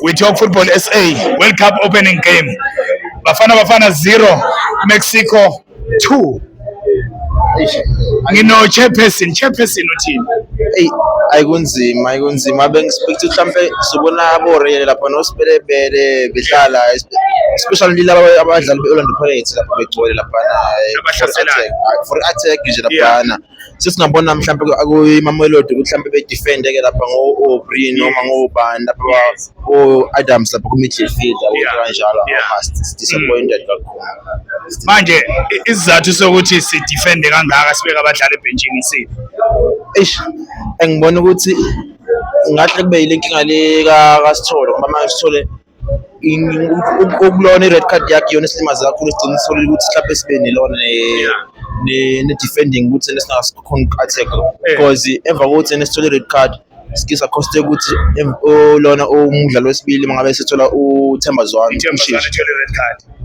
We talk football SA World Cup opening game. Bafana Bafana 0 Mexico 2. Ngino chairperson, chairperson uthini? Hey, ayikunzima, ayikunzima. Bengispect mhlambe sibona abore lapha nosibelebele behlala especially lila abadlali be-Orlando Pirates lapha begcwele lapha for attack, for attack nje lapha. Yeah. sesingabona mhlawumbe kuyimamelodi ukuthi mhlawumbe bedefende-ke lapha ngo-obri noma ngobani lapha o-adams lapha kumidfield kanjalo disappointed kakhulu manje isizathu sokuthi sidefende kangaka sibeke abadlali ebhentshini isiphi eish engibona ukuthi ngahle kube yile nkinga le kasithole ngoba manje sithole ukulona i-red card yakhe yona isilimaze kakhulu sigcina sisolile ukuthi mhlawumbe sibe nelona ne-defending ukuthi nesingasikhona uku-attack-a eh. because emva kokuthi nesithole i-red card sike sakhoste ukuthi lona umdlalo wesibili mangabe sethola uthemba zwane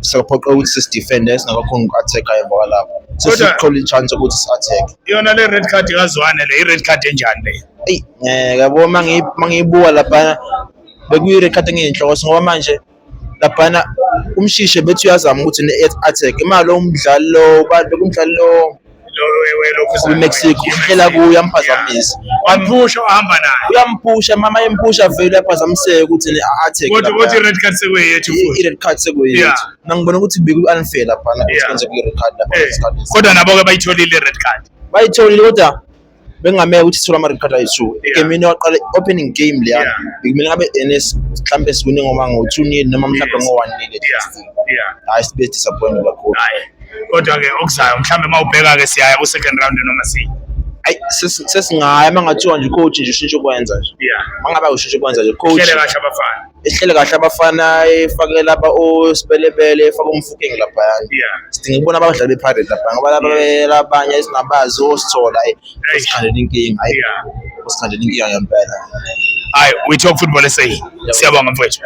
sakuphoqa ukuthi sisidefende singakakhona uku-attack-a emva kwalapho sesithole i-chance ukuthi si-attack yona le red card kazwane le i-red card enjani leyo eyi um yabo mangiyibuka laphana bekuyirekhada ngiyinhloko ngoba manje laphana umshishe bethi uyazama ukuthi ne-attack imali umdlali lo bantu kumdlali lo kwi-mexico uhlela kuyo uyamphazamisa waphusha uhamba naye uyamphusha mama yemphusha vele uyaphazamiseka ukuthi ne-attack i-red card sekuyeyethu i-red card sekuyeyethu nangibona ukuthi beku-unfair laphana ukuthi kwenze kwi-red card lapha eh, kodwa nabo-ke bayitholile i-red card bayitholile kodwa bengamele ukuthi sithola ama record ayi two egamini waqala opening game leya bekumele abe NS mhlambe siwine ngoba ngo 2 nil noma mhlambe ngo 1 nil hayi sibe disappointed kakhulu kodwa ke okuzayo mhlambe mawubheka ke siyaya ku second round noma si ayi sesingaya mangathiwa nje coach nje ushintshe ukwenza nje yeah mangabe ushintshe ukwenza nje coach hlele kahle abafana ehlele kahle abafana efake lapha osibelebele efake umfukeng laphayana sidinga ukubona abadlali be-pirate lapha ngoba labanye esingabazi osithola osikhandela inkinga hayi osikhandela inkinga ngempela hayi we talk football esayi siyabonga mfowethu